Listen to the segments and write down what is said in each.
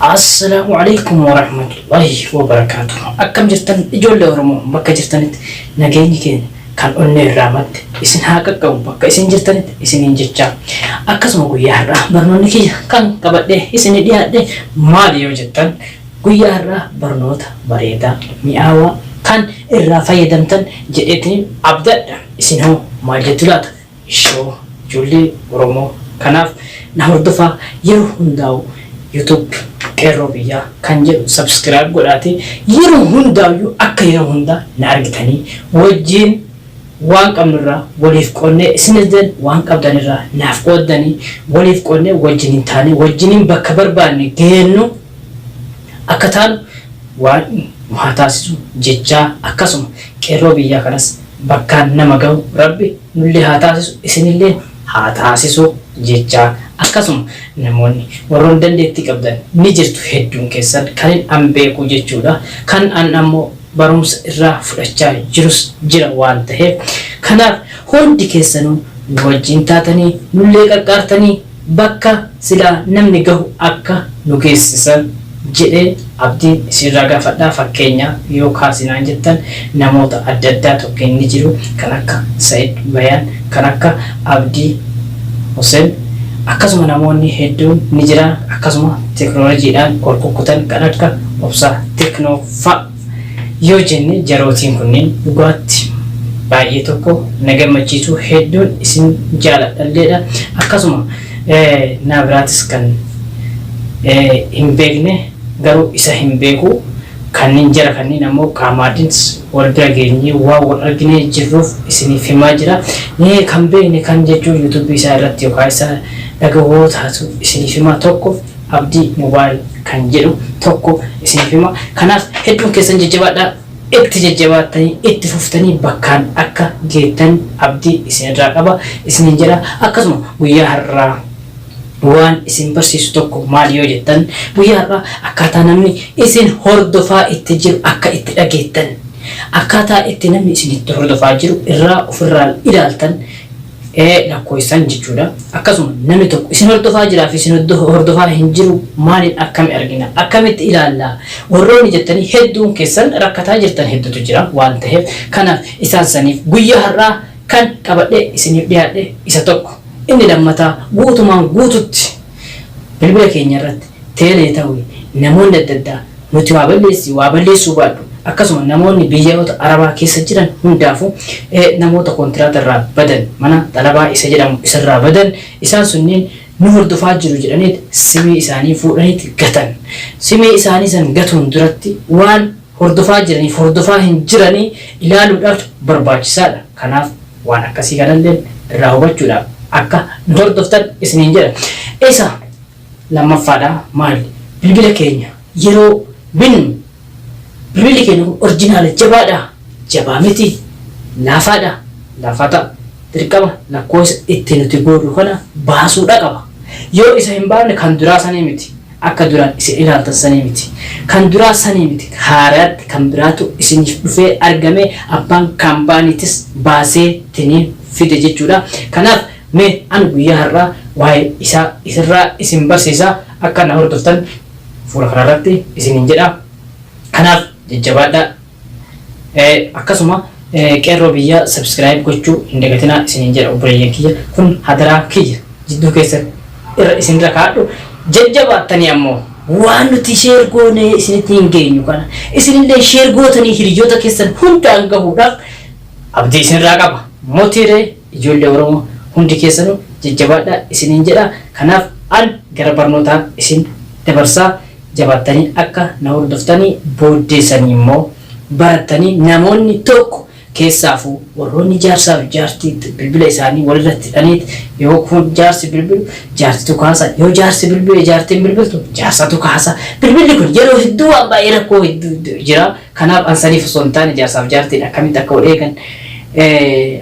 Assalaamu alaikum warahmatullahi wabarakaatuh. Akkam jirtan ijoollee Oromoo bakka jirtanitti nageenyi keenya kan onnee irraa madde isin haa qaqqabu bakka isin jirtanitti isiniin jechaa. Akkasuma guyyaa har'aa barnoonni kiyya kan qabadhee isinii dhiyaadhe maali yoo jettan guyyaa har'aa barnoota bareedaa mi'aawaa kan irraa fayyadamtan jedheetiin abdadha isin hoo maal jettu laata? Ishoo ijoollee oromoo kanaaf na hordofaa yeroo hundaa'u YouTube qeerroo biyyaa kan jedhu subscribe godhaatii yeroo hundaa'u akka yeroo hundaa na argitanii wajjiin waan qabnurraa waliif qoodnee isinilleen waan qabdanirraa naaf qooddanii waliif qoodnee wajjiniin taanee wajjiniin bakka barbaanne geennu akka taanu waan nu haa taasisu jechaa akkasuma qeerroo biyyaa kanas bakkaan nama gahu rabbi nullee haa taasisu isinilleen haa taasisu jechaa akkasuma namoonni warroon dandeettii qabdan ni jirtu hedduun keessan kanin an beeku jechuudha kan an ammoo barumsa irraa fudhachaa jirus jira waan taheef kanaaf hundi keessanuu nu wajjiin taatanii nullee qaqqaartanii Bakka silaa namni gahu akka nu geessisan jedhee abdiin isiirraa gaafadha. Fakkeenya yoo kaasi naan jettan namoota adda addaa tokkeen ni jiru. Kan akka Sa'id Bayaan, kan akka Abdii Husen akkasuma namoonni hedduun ni jira. Akkasuma teknolojiidhaan ol kukkutan kan akka Obsaa Teknoo fa'a. yoo jenne jarootiin kunniin dhugaatti baay'ee tokko na gammachiisuu hedduun isin jaaladhalleedha akkasuma naa biraatis kan hin beekne garuu isa hin beeku kanniin jara kanniin ammoo qaamaadhins wal bira geenyee waan wal arginee jirruuf isiniif himaa jira mee kan beekne kan jechuu yuutuubii isaa irratti yookaa isa dhagahuu yoo taatu isiniif himaa tokko Abdii mobile kan jedhu tokko isiniif hima. Kanaaf hedduun keessan jajjabaadhaa itti jajjabaattanii itti fuftanii bakkaan akka geettan abdii isinirraa qaba isiniin jedha. Akkasuma guyyaa har'aa waan isin barsiisu tokko maali yoo jettan guyyaa har'aa akkaataa namni isin hordofaa itti jiru akka itti dhageettan akkaataa itti namni isin itti hordofaa jiru irraa ofirraa ilaaltan ee lakkoysan jechuudha akkasuma namni tokko isin hordofaa jiraa fi isin hordofaa hin jiru maaliin akkami argina akkamitti ilaallaa warroonni jettanii hedduun keessan rakkataa jirtan heddutu jira waan taheef kanaaf isaan saniif guyyaa har'aa kan qabadhee isiniif dhiyaadhe isa tokko inni lammataa guutumaan guututti Bilbila keenya irratti Tele ta'uun namoonni adda addaa nuti waa balleessi waa balleessuu baadhu akkasuma namoonni biyyaoota Arabaa keessa jiran hundaafu namoota kontiraata irraa badan mana xalabaa isa jedhamu isarraa badan isaan sunniin nu hordofaa jiru jedhaniit simii isaanii fuudhaniit gatan. Simii isaanii san gatuun duratti waan hordofaa jiraniif hordofaa hin jiranii ilaaluudhaaf barbaachisaadha. Kanaaf waan akkasii kanalleen irraa hubachuudhaaf akka nu hordoftan isiniin jedha. Isa lammaffaadha maal bilbila keenya yeroo binnu bilbilli keenya kun orjinaala jabaadha jabaa miti laafaadha laafaa ta'a dirqama lakkoofsa itti nuti goonu kana baasuudha qaba. Yoo isa hin baafne kan duraa sanii miti. Akka duraan isin ilaaltan sanii miti. Kan duraa sanii miti, haaraatti kan biraatu isiniif dhufee argame, abbaan kaambaaniitis baasee tiniin fide jechuudha. Kanaaf mee ani guyyaa har'aa waa'ee isaa isirraa isin barsiisa, akka na hordoftan fuula kanarratti isiniin jedha. Kanaaf jajjabaadhaa. Akkasuma Qeerroo Biyyaa Subscribe gochuu hin dagatinaa isiniin jedha obboleeyyan kiyya. Kun hadaraa kiyya jidduu keessan irra isinirra kaa'adhu. Jajjabaattanii ammoo waan nuti share goonee isinitti hin geenyu kana isinillee share gootanii hiriyoota keessan hundaan gahuudhaaf abdii isinirraa qaba. Motiiree Ijoollee Oromoo hundi keessanu jajjabaadha isiniin jedha. Kanaaf an gara barnootaa isin dabarsa. Jabaattanii akka na hordoftanii booddeesanii immoo barattanii namoonni tokko keessaafuu warroonni jaarsaaf jaartii bilbila isaanii walirratti hidhaniit yoo kun jaarsi bilbilu jaartitu kaasa yoo jaarsi bilbile jaartiin bilbiltu jaarsatu kaasa bilbilli kun yeroo hedduu waan baay'ee rakkoo hedduu jira. Kanaaf an saniif osoo hin taane jaarsaaf jaartiin akkamitti akka wal eegan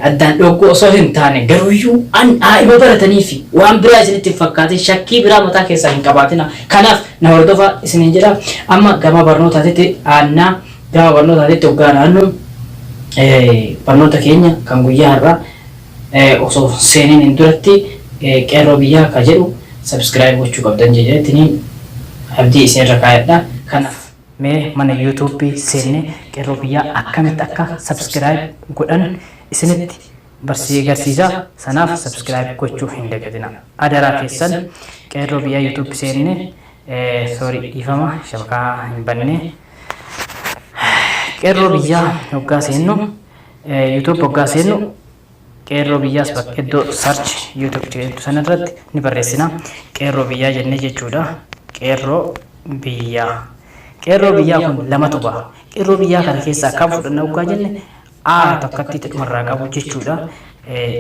addaan dhoogguu osoo hin taane garuuyyuu an daa'ima barataniifi waan biraa isinitti hin fakkaatin shakkii biraa mataa keessaa hin qabaatina. Kanaaf na hordofaa isiniin jedha. Amma gama barnootaatitti aannaa gama barnootaatitti hoggaa naannu barnoota keenya kan guyyaa har'aa osoo seeniin hin duratti qeerroo biyyaa akka jedhu sabskiraayib gochuu qabdan jedhaniitiin abdii isinirra kaayadha. Kanaaf. Mee mana YouTube seenne qerroo biyyaa akkamitti akka subscribe godhan isinitti barsisee garsiisa sanaaf subscribe gochuu hin dagatina adaraa keessan qeerroo biyyaa YouTube seenne sorry dhiifama shabakaa hin banne qeerroo biyyaa hoggaa seennu YouTube hoggaa seennu Qeerroo Biyyaas bakka iddoo search youtube jedhtu sana irratti ni barreessina. Qeerroo Biyyaa jennee jechuudha. Qeerroo Biyyaa. Qeerroo Biyyaa kun lamatu baha. Qeerroo Biyyaa kana keessaa kam fudhanna oggaa jenne A takkattiitu dhuma irraa qabu jechuudha.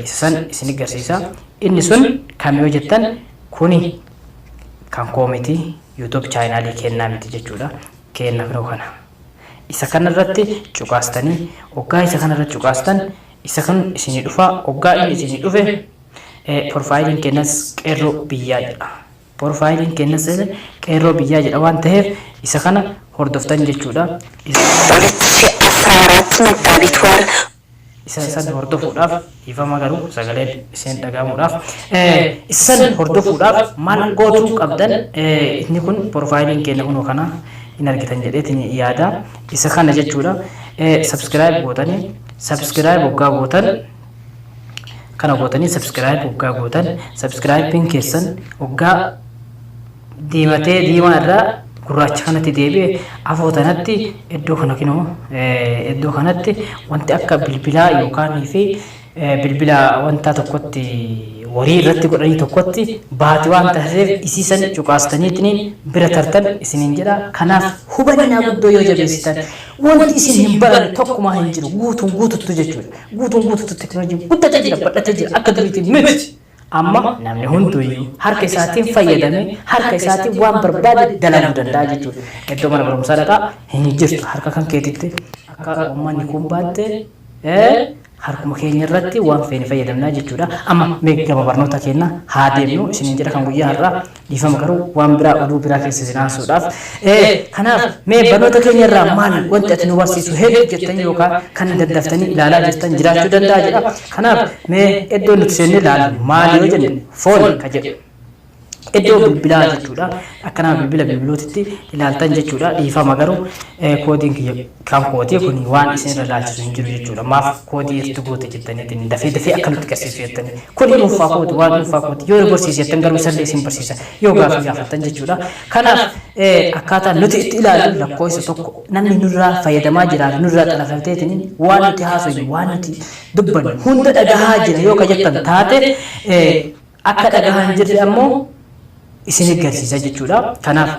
Isa san isin garsiisa. Inni sun kam yoo jettan kuni kan koo miti youtube chaayinaalii kennaa miti jechuudha. Keenna kunoo kana. Isa kana irratti cuqaastanii oggaa isa kana irratti cuqaastan Isa kan isinii dhufa oggaa inni isinii dhufe porfaayiliin keennas qeerroo biyyaa jedha. Porfaayiliin keennas qeerroo biyyaa jedha waan taheef isa kana hordoftan jechuudha. Isa isa san hordofuudhaaf dhiifama garuu sagaleen iseen dhaga'amuudhaaf isa san hordofuudhaaf maal gootuu qabdan inni kun porfaayiliin keenya kunoo kana hin argitan jedheetiin yaada isa kana jechuudha sabskiraayib gootanii Subscribe hoggaa gootan kana gootanii subscribe hoggaa gootan subscribe'n keessan hoggaa diimatee diimaa irraa gurraacha kanatti deebi'e afoo tanatti iddoo kana kinoo iddoo kanatti wanti akka bilbilaa yookaan fi bilbila wanta tokkotti warii irratti godhanii tokkotti baati waan taasiseef isiisan cuqaastaniitiin bira tartan isiniin jedha kanaaf hubannaa guddoo yoo jabeessitan Wanti isin hin baranne tokkumaa hin jiru guutuun guututtu jechuudha. Guutuun guututtu teknooloojiin guddatee jira badhatee jira akka duriitiin miti. Amma namni hunduyyuu harka isaatiin fayyadamee harka isaatiin waan barbaade dalaguu danda'a jechuudha. Iddoo mana barumsaa dhaqaa hin jirtu harka kan keetitti akka uummanni kun baattee Harkuma keenya irratti waan feene fayyadamna jechuudha. Amma mee gama barnoota keennaa haa deemnu isiniin jedha kan guyyaa har'aa. Dhiifama garuu waan biraa oduu biraa keessa isin aansuudhaaf. Ee kanaaf mee barnoota keenya irraa maal wanti ati nu barsiisu hedduu jettanii yookaan kan daddaftanii ilaalaa jirtan jiraachuu danda'a jedha. Kanaaf mee iddoo nuti seennee ilaallu maal yoo jenne foon ka jedhu. Iddoo bilbilaa jechuudha. Akka nama bilbila bilbiluutitti ilaaltan jechuudha. Dhiifama garuu koodiin kiyya kan kooti kun waan isin irra ilaalchisu hin jiru jechuudha. Maaf koodii irratti goote jettaniitiin dafee dafee akka nutti garsiisu jettanii. Kun dhuunfaa kooti waan dhuunfaa kooti yoo barsiise jettan garuu isallee isin barsiisa yoo gaafii gaafattan jechuudha. Kanaaf akkaataa nuti itti ilaallu lakkoofsa tokko namni nurraa fayyadamaa jiraa fi nurraa xalafateetiin waan nuti haasofnu waan nuti dubbannu hunda dhagahaa jira yoo ka jettan taate akka dhagahaa hin jirre ammoo isin eggarsiisa jechuudha. Kanaaf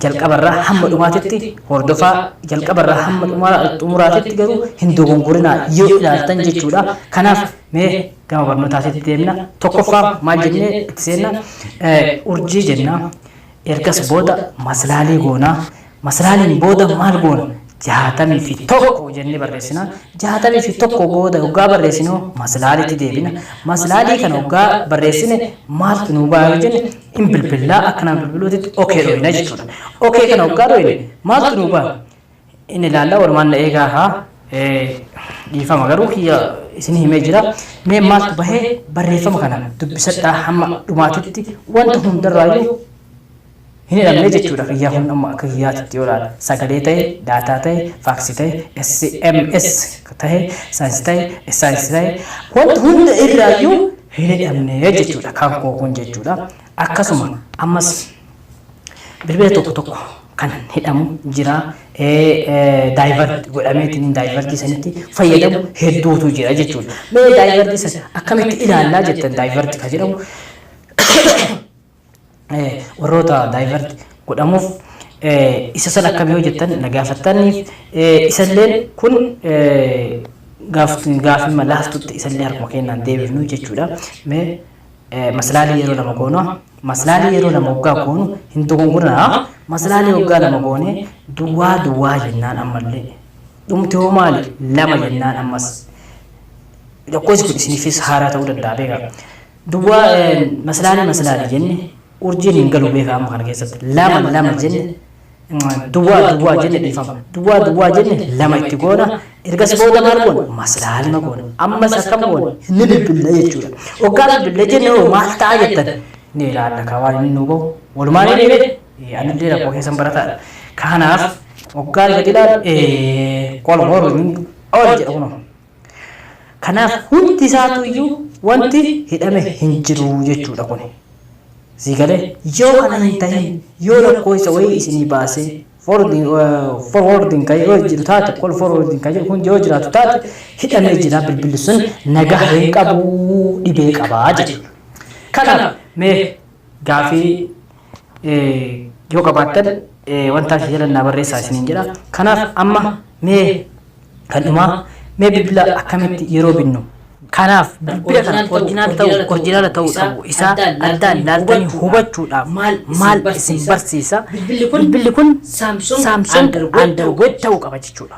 jalqaba irraa hamma dhumaatitti hordofaa jalqaba irraa hamma dhumaa- xumuraatitti garuu hin dogongorinaa yoo ilaaltan jechuudha. Kanaaf mee gama barnootaatitti deemna. Tokkoffaa maal jennee itti seenna? Eh, Urjii jenna. Ergas booda maslaalii goona. Maslaaliin booda maal goona? 61 jennee barreessina. 61 booda hoggaa barreessinu maslaaliitti deebina. Maslaalii kana hoggaa barreessine maaltu nuu ba'a yoo jenne hin bilbillaa akka nama bilbiluutitti okee dhooyna jechuudha. Okee kana hoggaa dhooyne maaltu nuu ba'a? in ilaalla walumaan na eegaa haa dhiifama garuu kiyya isin himee jira mee maaltu bahee barreeffama kana dubbisadhaa hamma dhumaatitti wanta hundarraayyuu hin hidhamne jechuudha kiyyaa kun amma akka kiyyaatitti yoo ilaala sagalee ta'e daataa ta'e faaksii ta'e sms ta'e saayinsii ta'e saayinsii ta'e wanta hunda irraayyuu hin hidhamne jechuudha kan koo kun jechuudha akkasuma ammas Bilbila tokko tokko kan hidhamu jira. Daayivarti godhameetiin daayivartii sanitti fayyadamu hedduutu jira jechuudha. Mee daayivartii sana akkamitti ilaallaa jettan daayivarti kan jedhamu warroota daayivarti godhamuuf isa sana akkam yoo jettan na gaafattaniif isalleen kun gaafii malaaftutti isallee harkuma kennaan deebifnu jechuudha. Mee maslaalii yeroo lama goona maslaalii yeroo lama hoggaa goonu hin dogongorinaa maslaalii hoggaa lama goone duwwaa duwwaa jennaan ammallee dhumti hoo maali lama jennaan ammas lakkoofsi kun isiniifis haaraa ta'uu danda'a beekaa duwwaa maslaalii maslaalii jenne urjiin hin galu beeka amma kana keessatti lama lama jenne duwwaa duwwaa jenne dhiifama duwwaa duwwaa jenne lama itti goona ergas booda maal goona maslaalima goona ammas akkam goona ni bilbille jechuudha oggaa bilbille jenne hoo maal ta'a jettan ni ilaalla kaa waan inni nuu bahu walumaa ni dhibe anillee rakkoo keessan barataadha kanaaf oggaa gadi ilaalu qol horuun ol jedha kunoo Kanaaf hundi isaatu iyyuu wanti hidhame hin jiru jechuu dha kuni. Sii galee? Yoo kana hin tahin yoo lakkooysa wayii isinii baasee forwarding forwarding ka yoo jiru taate call forwarding ka kun yoo jiraatu taate hidhamee jira bilbilli sun nagaha hin qabu dhibee qaba jechuu dha. Kanaaf mee gaafii yoo qabaattan wanta asii jala naa barreessaa isiniin jedha. Kanaaf amma mee kan dhumaa mee bilbila akkamitti yeroo binnu kanaaf bilbila kana orjinaal ta'u orjinaala ta'uu dhabu isaa addaan laaltanii hubachuudhaaf maal isin barsiisa bilbilli kun saamsoon andargood ta'uu qaba jechuudha.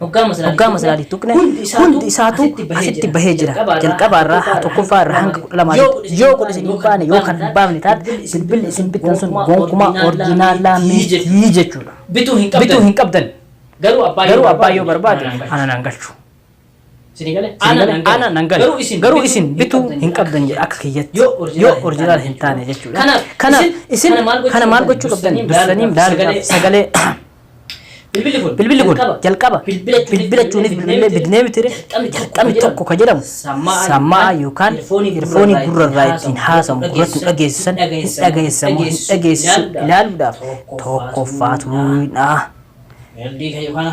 Hoggaa masalaa tuqne hundi isaatu asitti bahee jira. Jalqabaa irraa haa tokkoffaa irraa hanga kudha lamaa yoo kun isin hin baane yoo kan hin baafne taate bilbilli isin bittan sun gonkumaa orjinaalaa mitii jechuudha. Bituu hin qabdan. Garuu abbaa yoo barbaade ananaan galchu. Sini gale? Ana nan gale. Ana nan gale. Garuu isin Garuu isin bituu bituu hin qabdan jedha akka kiyyatti. Yoo original Yoo hin original taane hin taane jechuudha. Kanaaf, Kanaaf isin isin kana maal gochuu kana maal qabdan? gochuu qabdan? Dursanii Dursanii daal daal gaaf sagalee Bilbilli kun bilbilli kun jalqaba bilbilachuunis bilbilee bidnee mitire jalqabni tokko ka jedhamu sammaa yookaan irfoonii gurra irraa ittiin haasamu gurratti dhageessisan hin dhageessisamu hin dhageessisu ilaaluudhaaf tokkoffaatuudha. Meeldii kayyoo kana.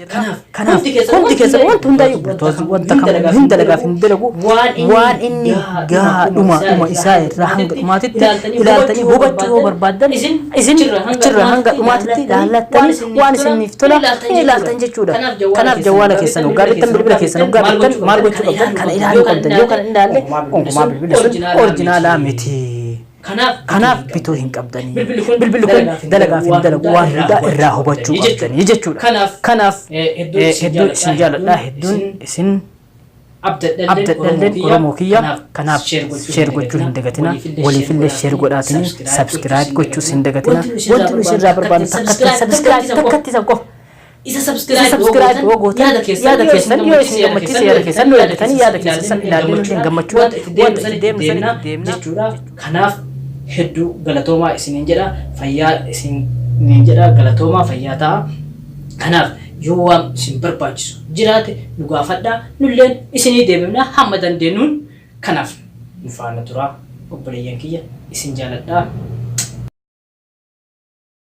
Kanaaf, kanaaf hundi keessan hundi keessan wanta wanti hundaa'e hundaa'e bultoos wanta wanta kam kam hin dalagaaf hin dalagu waan inni waan inni gahaa gahaa dhuma isaa dhuma isaa irraa irraa hanga dhumaatitti ilaaltanii ilaaltanii hubachuu hubachuu yoo yoo barbaaddan barbaaddan isin isin achirra hanga achirra hanga dhumaatitti dhumaatitti ilaallattanii ilaallattanii waan isiniif tola hin ilaaltan jechuudha kanaaf jawwaala keessan hoggaa bittan bilbila keessan hoggaa bittan maal gochuu qabdan kana ilaaluu qabdan yoo kana hin ilaalle gonkumaa bilbilli sun orjinaalaa miti. Kanaaf bituu hin qabdanii. Bilbilli kun dalagaaf hin dalagu waan hundaa irraa hubachuu qabdanii jechuudha. Kanaaf hedduun isin jaaladha hedduun isin abdadhalleen Oromoo kiyya kanaaf sheer gochuu hin dagatina waliifillee sheer godhaatini sabskiraayib gochuus hin dagatina wanti nu isin irraa barbaannu takkatti sabskiraayib takkatti isa qofa Isa Isa subscribe subscribe yoo gootan yaada keessan yoo isin gammachiise yaada keessan nu yaadatanii yaada keessan san ilaallee nuti hin gammachuu wanta itti deemnu san itti deemna jechuudha. Kanaaf hedduu galatoomaa isiniin jedha fayyaa isiniin jedha galatoomaa fayyaa ta'a. Kanaaf yoo waan isin barbaachisu jiraate nu gaafadhaa nulleen isinii deebifna hamma dandeenyuun kanaaf nu faana turaa obboleeyyan kiyya isin jaaladhaa.